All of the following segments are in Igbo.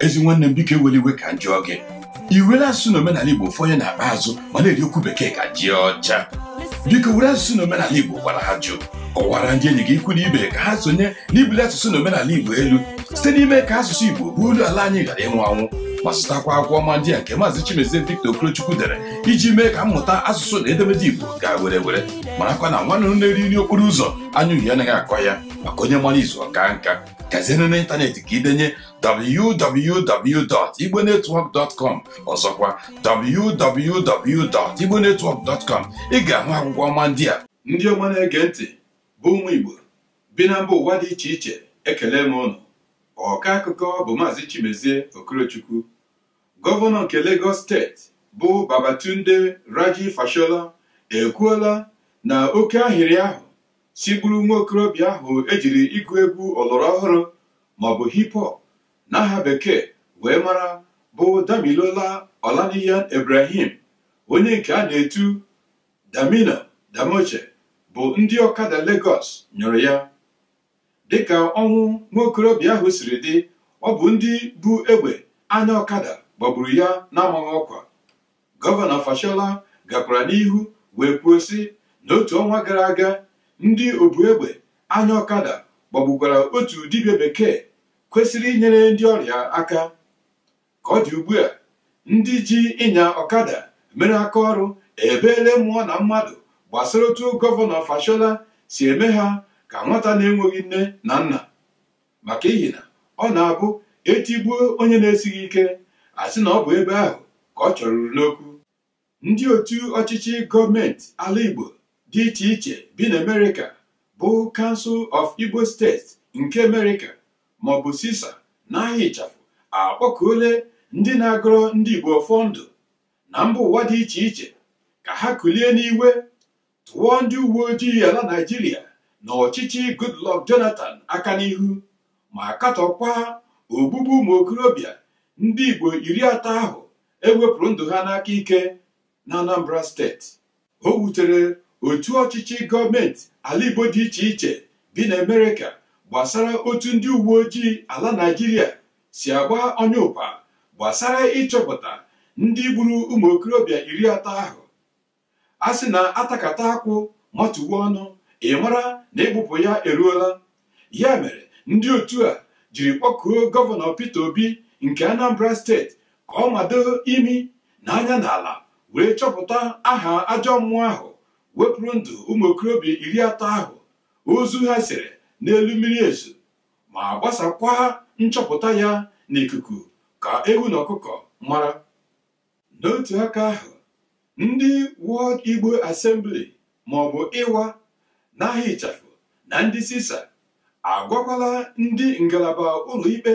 ezi nwanne m biko ewele iwe ka m jụọ gị i were asụsụ na omenala igbo ụfọdụ na-akpa azụ ma na-eri okwu bekee ka ji ọcha biko were asụsụ na omenala igbo gwara ajụ kọwara ndị enyi gị ikwu na ibe ka ha sonye n'ibuli asụsụ na omenala igbo elu site n'ime ka asụsụ igbo bụ olu ala anyị ghara ịnwụ anwụ ma zụtakwa akwụkwọ ọma ndị a nke maazị Chimezie Victor Okorochukwu dere iji mee ka mmụta asụsụ na edemede Igbo gaa were were marakwa na nwa nduru na-eri nri okporo ụzọ anya uhie anaghị akọ ya maka onye mara izu ọ kaa nka gazienụ n'ịntanetị ka i denye www.igbonetwork.com ọzọkwa www.igbonetwork.com ị ga-ahụ akwụkwọ ọma ndị a ndị ọma na-ege ntị bụ ụmụ Igbo bi na mba ụwa dị iche iche ekele m unu ọka akụkọ bụ maazị Chimezie Okorochukwu gọvanọ nke Lagos steeti bụ Babatunde Raji Fashola ekwuola na oke ahịrị ahụ sigburu nwa okorobịa ahụ e jiri ịgụ egwu ọlọrọ ọhụrụ maọbụ hip hop n'aha bekee wee mara bụ Damilola Olaniyan Ibrahim onye nke a na-etu Damino Damoche bụ ndị ọkada Lagos nyụrụ ya dịka ọnwụ nwa okorobịa ahụ siri dị ọ bụ ndị bu egbe anya ọkada gbagburu ya n'amaghị ọkwa Gọvanọ Fashola gakwara n'ihu wee kwuo sị n'otu ọnwa gara aga ndị obu egbe anya ọkada gbagbukwara otu dibịa bekee kwesịrị inyere ndị ọrịa aka ka ọ dị ugbu a ndị ji ịnya ọkada mere aka ọrụ ebeele mmụọ na mmadụ gbasara otu gọvanọ Fashola si eme ha ka nwata na-enweghị nne na nna maka ihi na ọ na-abụ e tigbuo onye na-esighị ike a sị na ọ bụ ebe ahụ ka ọ chọruru n'okwu ndị otu ọchịchị gọọmenti ala Igbo dị iche iche bi na Amerịka bụ Council of Igbo States nke Amerịka maọbụ CISA n'aha ịchafụ akpọkuole ndị na-agọrọ ndị Igbo ọfọ ndụ na mba ụwa dị iche iche ka ha kulie n'igwe tụọ ndị uwe ojii ala Naịjirịa na ọchịchị Goodluck Jonathan aka n'ihu ma katọkwa ogbugbu ụmụ okorobịa ndị Igbo iri atọ ahụ e wepụrụ ndụ ha n'aka ike na Anambra steeti o wutere otu ọchịchị gọọmenti ala Igbo dị iche iche dị n'Amerịka gbasara otu ndị uwe ojii ala Naịjirịa si agba ọnyụpa gbasara ịchọpụta ndị gburu ụmụ okorobịa iri atọ ahụ a sị na atakata akwụ matuwe ọnụ ị mara na ịbụpụ ya eruola ya mere ndị otu a jiri kpọkuo gọvanọ Peter Obi nke Anambra steeti ka ọ mado imi na anya n'ala wee chọpụta aha ajọ mmụọ ahụ wepụrụ ndụ ụmụ okorobịa iri atọ ahụ ozu ha sere n'elu mmiri Ezu ma gbasakwa nchọpụta ya n'ikuku ka ewu na ọkụkọ mara n'otu aka ahụ ndị World Igbo Assembly ma ọ bụ IWA n'aha ịchafụ na ndị CISA agwakwala ndị ngalaba ụlọikpe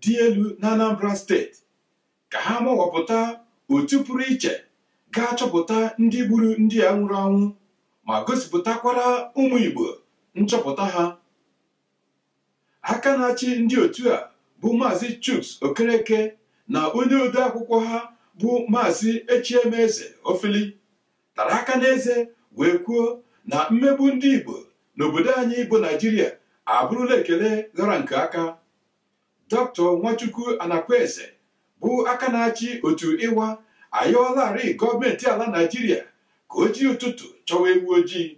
dị elu na Anambra steeti ka ha mawapụta otu pụrụ iche ga-achọpụta ndị gburu ndị a nwụrụ anwụ ma gosipụtakwara ụmụ Igbo nchọpụta ha aka na-achị ndị otu a bụ maazị Chuks Okereke na onye ode akwụkwọ ha bụ maazị Echiemeze Ofili tara aka n'eze wee kwuo na mmegbu ndị Igbo n'obodo anyị bụ Naijiria abụrụla ekele ghara nke aka dọkịta Nwachukwu Anakwenze bụ aka na-achị otu IWA ayọọlarị gọọmenti ala Naijiria ka o jiri ụtụtụ chọwa ewu ojii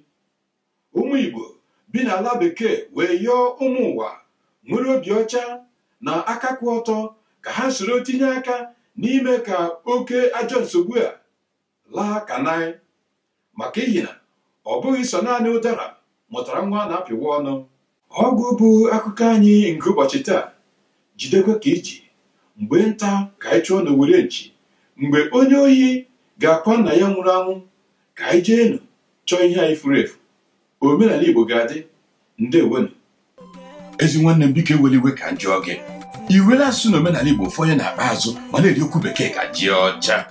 ụmụ Igbo bi n'ala bekee wee yọọ ụmụ ụwa nwere obi ọcha na aka kwụ ọtọ ka ha soro tinye aka n'ime ka oke ajọ nsogbu a laa ka naị maka ihi na ọ bụghị sọ naanị ụdara mụtara nwa a na-apịwa ọnụ ọgwụ bụ akụkọ anyị nke ụbọchị taa jidekwa ka i ji mgbe nta ka anyị chụọ n'owere nchi mgbe onye ohi ga-akwa nna ya nwụrụ anwụ ka anyị jeenụ chọọ ihe anyị furu efu omenala Igbo ga-adị ndewonu ezi nwanne m biko ewela iwe ka m jụọ gị i were asụsụ na omenala igbo fọnye n'akpa azụ ma na-eri okwu bekee ka ji ọcha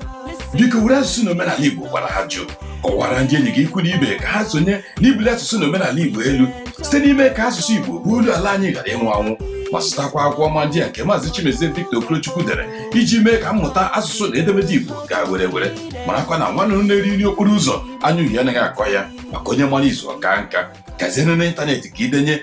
biko were asụsụ na omenala igbo kwara ajụ kọwara ndị enyi gị ikwu na ibe ka ha sonye n'ibuli asụsụ na omenala igbo elu site n'ime ka asụsụ igbo bụ olu ala anyị ghara ịnwụ anwụ ma zụtakwa akwụkwọ ọma ndị a nke maazị Chimezie Victor Okorochukwu dere iji mee ka mmụta asụsụ na edemede igbo gaa were were marakwa na nwa nduru na-eri nri okporo ụzọ anya uhie anaghị akọ ya maka onye mara izu ọ kaa nka gazienụ n'ịntanetị ka i denye